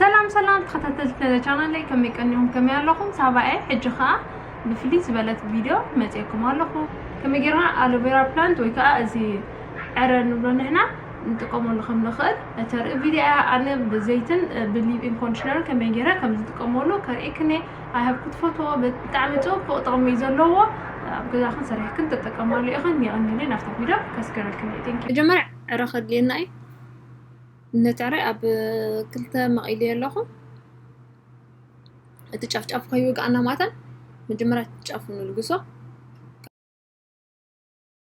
ሰላም ሰላም ተኸታተልቲ ነዚ ቻናለይ ከመይ ቀኒኹም ከመይ ኣለኹም ሳባኤ ሕጂ ከዓ ብፍልይ ዝበለት ቪድዮ መፅኤኩም ኣለኹ ከመይ ጌርና ኣሎቬራ ፕላንት ወይ ከዓ እዚ ዕረ ንብሎ ንሕና ንጥቀመሉ ከም ንኽእል እተርኢ ቪድዮ እያ ኣነ ብዘይትን ብሊብኢን ኮንዲሽነርን ከመይ ጌረ ከም ዝጥቀመሉ ከርእክኒ ኣይሃብ ክትፈትዎ ብጣዕሚ ፅቡቅ ጥቕሚ እዩ ዘለዎ ኣብ ገዛኽን ሰሪሕክን ተጠቀማሉ ኢኽን የቐኒለይ ናብቲ ቪድዮ ከስገረልክን እዩ ቴንኪ መጀመርያ ዕረ ከድልየና እዩ ነታሪ ኣብ ክልተ መቒልዮ ኣለኹ እቲ ጫፍጫፍ ከይወግኣና ማታን መጀመርያ ጫፉ ንልግሶ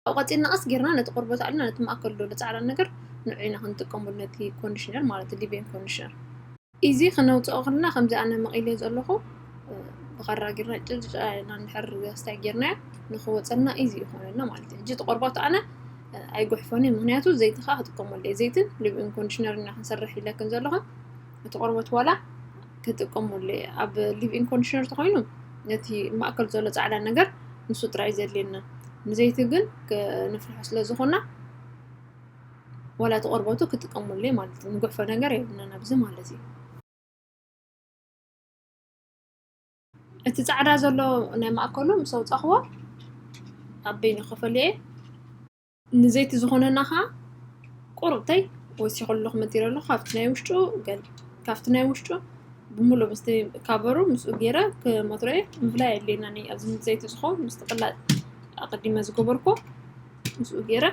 ካብኡ ቀፂልና ቀስ ጌርና ነቲ ቆርቦት ኣልና ነቲ ማእከል ዘሎ ፃዕዳ ነገር ንዑ ኢና ክንጥቀመሉ ነቲ ኮንዲሽነር ማለት ሊቤን ኮንዲሽነር ኢዚ ክነውጽኦ ከለና ከምዚ ኣነ መቒለዮ ዘለኹ ብኻራ ጌርና ጭልጭ ኣልና እንድሕር ኣስታይ ጌርናዮ ንኽወጸልና ኢዚ እዩ ክኾነልና ማለት እዩ። ሕጂ እቲ ቆርቦት ኣነ ኣይጉሕፎን እዩ ምክንያቱ ዘይቲ ከኣ ክጥቀመሉ እየ ዘይትን ልብን ኮንዲሽነር ኢና ክንሰርሕ ኢለክን ዘለኹ እቲ ቆርቦት ዋላ ክጥቀመሉ እየ ኣብ ሊብኢን ኮንዲሽነር ተኾይኑ ነቲ ማእከል ዘሎ ጻዕዳ ነገር ንሱ ጥራይ ዘድልየና ንዘይቲ ግን ነፍርሖ ስለ ዝኾና ዋላ እቲ ቆርበቱ ክጥቀመሉ እየ ማለት እዩ። ንጉሕፎ ነገር የብልናን ኣብዚ ማለት እዩ። እቲ ፃዕዳ ዘሎ ናይ ማእከሉ ምስ ኣውፃኽዎ ኣብ በይኑ ክፈልዮ እየ ንዘይቲ ዝኾነና ከዓ ቁርብተይ ወሲኸሉ ክምትይረ ኣለኹ ካብቲ ናይ ውሽጡ ገል ካብቲ ናይ ውሽጡ ብምሉእ ምስቲ ካበሩ ምስኡ ገይረ ክመትሮ እየ ምፍላይ ኣድልየናኒ ኣብዚ ዘይቲ ዝኸውን ምስቲ ቅላጥ ኣቐዲመ ዝገበርኩ ምስኡ ገይረ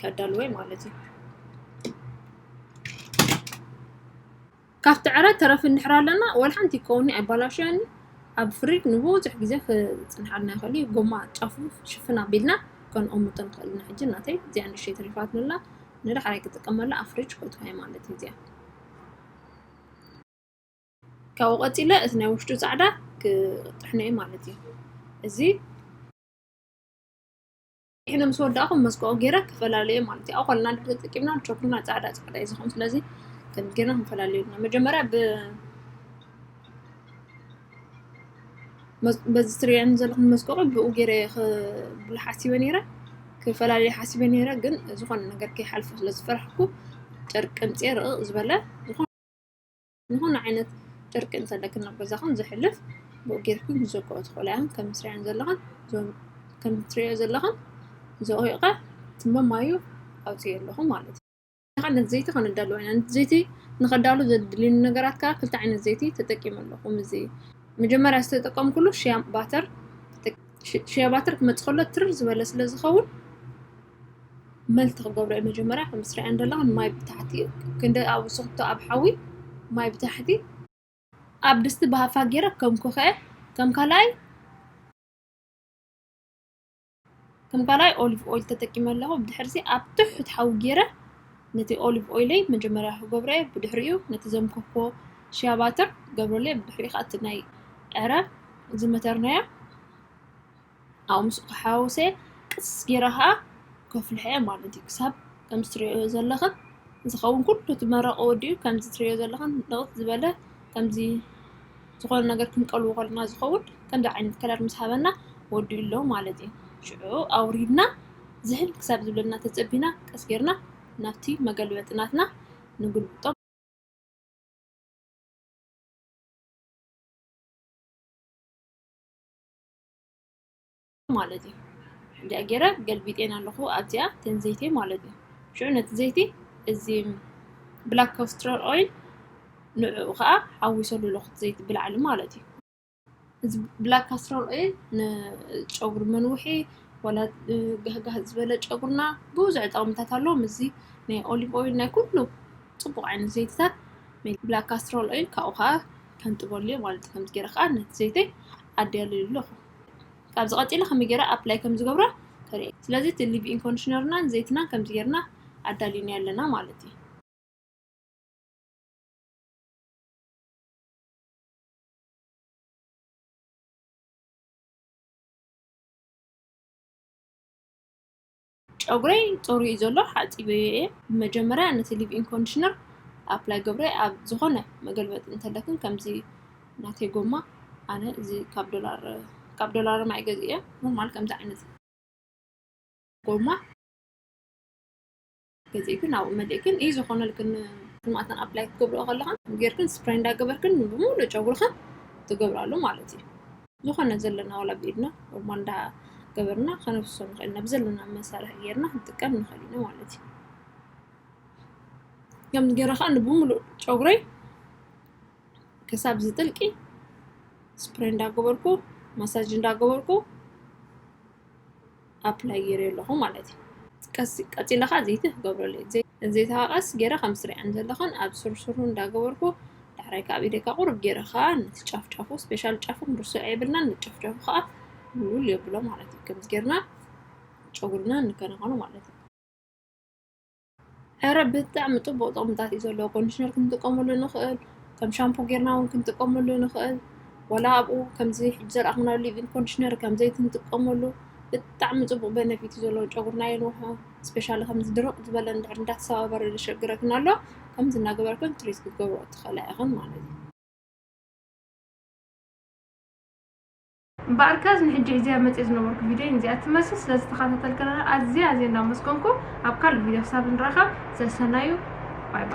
ከዳልወይ ማለት እዩ ካብቲ ዕረ ተረፍ እንድሕር ኣለና ወላ ሓንቲ ከውኒ ኣይባላሸኒ ኣብ ፍሪድ ንብዙሕ ግዜ ክፅንሓልና ይኽእል እዩ ጎማ ጫፉ ሽፍን ኣቢልና ከንኦምቶ ንኽእል ኢና ሕጂ ናተይ እዚኣ ንእሽተይ ተሪፋትንላ ንዳሕራይ ክጥቀመላ ኣብ ፍሪጅ ከእትዋይ ማለት እዩ እዚኣ ካብኡ ቀፂለ እቲ ናይ ውሽጡ ፃዕዳ ክጥሕኖ እዩ ማለት እዩ እዚ ኢነ ምስ ወዳእኹም መስቀኦ ገይረ ክፈላለየ ማለት እዩ ኣብ ኮልና ድሮ ጥቂምና ቾክና ፃዕዳ ፃዕዳ እዩ ዝኸውን ስለዚ ከምዚ ገይርና ክንፈላለዩ ና መጀመርያ ብ በዚ ትሪያን ዘለኹም መስቀኦ ብኡ ገይረ ብላ ሓሲበ ነይረ ክፈላለየ ሓሲበ ነይረ ግን ዝኾነ ነገር ከይሓልፉ ስለዝፈራሕኩ ጨርቂ ቅምፂ ርቕ ዝበለ ዝኾነ ዝኾነ ዓይነት ጥርቂ እንተለክን ናብ ገዛኹም ዝሕልፍ ብኡ ጌርኩም ክትዘግኦ ትኽእሉ እዮም ከም ትሪኦ ዘለኹም ከም ትሪኦ ዘለኹም ዘቑይቐ ትመማዩ ኣውፅኡ ኣለኹ ማለት እዩ ሓደ ዘይቲ ከነዳሉ ኢና ዘይቲ ንኸዳሉ ዘድልዩኒ ነገራት ከዓ ክልተ ዓይነት ዘይቲ ተጠቂሙ ኣለኹ እዚ መጀመርያ ዝተጠቀምኩሉ ሽያ ባተር ሽያ ባተር ክመፅእ ከሎ ትርር ዝበለ ስለ ዝኸውን መልቲ ክገብሮ እዩ መጀመርያ ከምዚ ትሪእየን ዘለኽን ማይ ብታሕቲ እዩ ክንዲ ኣብኡ ስኽቶ ኣብ ሓዊ ማይ ብታሕቲ ኣብ ድስቲ ብሃፋ ገይረ ከም ኮኸዐ ከም ካልኣይ ከም ካልኣይ ኦሊቭ ኦይል ተጠቂመ ኣለኹ ብድሕርዚ ኣብ ትሑት ሓዊ ገይረ ነቲ ኦሊቭ ኦይለይ መጀመርያ ክገብሮ እየ ብድሕሪኡ ነቲ ዘምከኮ ሽያባትር ገብረለይ ብድሕሪኡ ከዓ እቲ ናይ ዕረ ዝመተርናዮ ኣብኡ ምስኡ ተሓዋዊሰ ቅስ ገይረ ኸኣ ከፍልሖ'የ ማለት እዩ። ክሳብ ከምዚ ትርእይኦ ዘለኽን ዝኸውን ኩሉ እቲ መረቕ ወዲኡ ከምዚ ትርእይኦ ዘለኽን ንቕጽ ዝበለ ከምዚ ዝኾነ ነገር ክንቀልዎ ከለና ዝኸውን ከምዚ ዓይነት ከለር ምስ ሃበና ወዲኡ ኣሎ ማለት እዩ። ሽዑ ኣውሪድና ዝህን ክሳብ ዝብለና ተጸቢና ቀስ ገይርና ናብቲ መገልበጢ ናትና ንግልብጦ። ማለት እዩ እንዲያ ገይረ ገልቢጤን ኣለኹ ኣብዚኣ ተን ዘይቲ ማለት እዩ ሽዑ ነቲ ዘይቲ እዚ ብላክ ኮስትረር ኦይል ንዕኡ ከዓ ሓዊሰሉ ኣለኹ ዘይቲ ብላዕሊ ማለት እዩ እዚ ብላክ ካስትሮል ኦይል ንጨጉሪ መንውሒ ወላ ጋህጋህ ዝበለ ጨጉርና ብዙሕ ጠቕምታት ኣለዎ ምስዚ ናይ ኦሊቭ ኦይል ናይ ኩሉ ፅቡቅ ዓይነት ዘይትታት ብላክ ካስትሮል ኦይል ካብኡ ከዓ ከንጥበሉ'የ ማለት እዩ። ከምዚ ገይረ ከኣ ነቲ ዘይተይ ኣዳልየሉ ኣለኹ። ካብዚ ቀጺለ ከመይ ገይረ ኣፕላይ ከም ዝገብሮ ተርእየ። ስለዚ እቲ ሊቭ ኢን ኮንዲሽነርናን ዘይትናን ከምዚ ገይርና ኣዳሊናዮ ኣለና ማለት እዩ። ጨጉረይ ጸሩዩ እዩ ዘሎ ሓጺበዮ እየ ብመጀመርያ ነቲ ሊቭኢን ኮንዲሽነር ኣፕላይ ገብረ ኣብ ዝኾነ መገልበጢ እንተለክን ከምዚ ናተይ ጎማ ኣነ እዚ ካብ ዶላር ካብ ዶላር ማይ ገዝ እየ ኖርማል ከምዚ ዓይነት ጎማ ገዚእክን ኣብኡ መሊእክን እዩ ዝኾነልክን ስማእተን ኣፕላይ ክትገብርኦ ከለኻ ጌርክን ስፕራይ እንዳገበርክን ብምሉእ ጨጉርኽን ትገብራሉ ማለት እዩ ዝኾነ ዘለና ዋላ ብኢድና ኖርማል እንዳ ገበርና ከነፍሶ ንኽእል ኢና ብዘለና መሳርሒ ጌርና ክንጥቀም ንኽእል ኢና ማለት እዩ ከምዚ ገይረ ከዓ ንብምሉእ ጨጉረይ ክሳብ ዝጥልቂ ስፕሬይ እንዳገበርኩ ማሳጅ እንዳገበርኩ ኣፕላይ ገይረዮ ኣለኹ ማለት እዩ ቀስ ቀፂለ ከዓ ዘይቲ ክገብረሉ እየ ዘይቲ ከዓ ቀስ ገይረ ከም ትሪኣን ዘለኽን ኣብ ስርስሩ እንዳገበርኩ ዳሕራይ ካብ ኢደይ ከዓ ቁርብ ገይረ ከዓ ነቲ ጫፍ ጫፉ ስፔሻል ጫፉ ክንርስዕ የብልናን ንጫፍ ጫፉ ከዓ ውል የብሎ ማለት እዩ ከምዚ ገይርና ጨጉርና ንከናኸኖ ማለት እዩ ዕረ ብጣዕሚ ጥቡቕ ጥቕምታት እዩ ዘለዎ ኮንድሽነር ክንጥቀመሉ ንኽእል ከም ሻምፖ ጌርና እውን ክንጥቀመሉ ንኽእል ዋላ ኣብኡ ከምዚ ሕጂ ዘረኣኽናዮ ሊቪን ኮንድሽነር ከም ዘይቲ ንጥቀመሉ ብጣዕሚ ጥቡቕ በነፊት እዩ ዘለዎ ጨጉርና የንውሖ ስፔሻሊ ከምዚ ድርቕ ዝበለ እንድሕር እንዳተሰባበረ ዘሸግረክን ኣሎ ከምዚ እናገበርክን ትሪት ክትገብሮ ትኽእላ ኢኽን ማለት እዩ እምበኣር ከዝ ንሕጂ እዚኣ መጽየ ዝነበርኩ ቪድዮ ንዚኣ ትመስል ስለ ዝተኸታተልክና ኣዝየ ኣዝየ እንዳመስገንኩ ኣብ ካልእ ቪድዮ ክሳብ ንራኸብ ሰሰናዩ ባይ ባይ።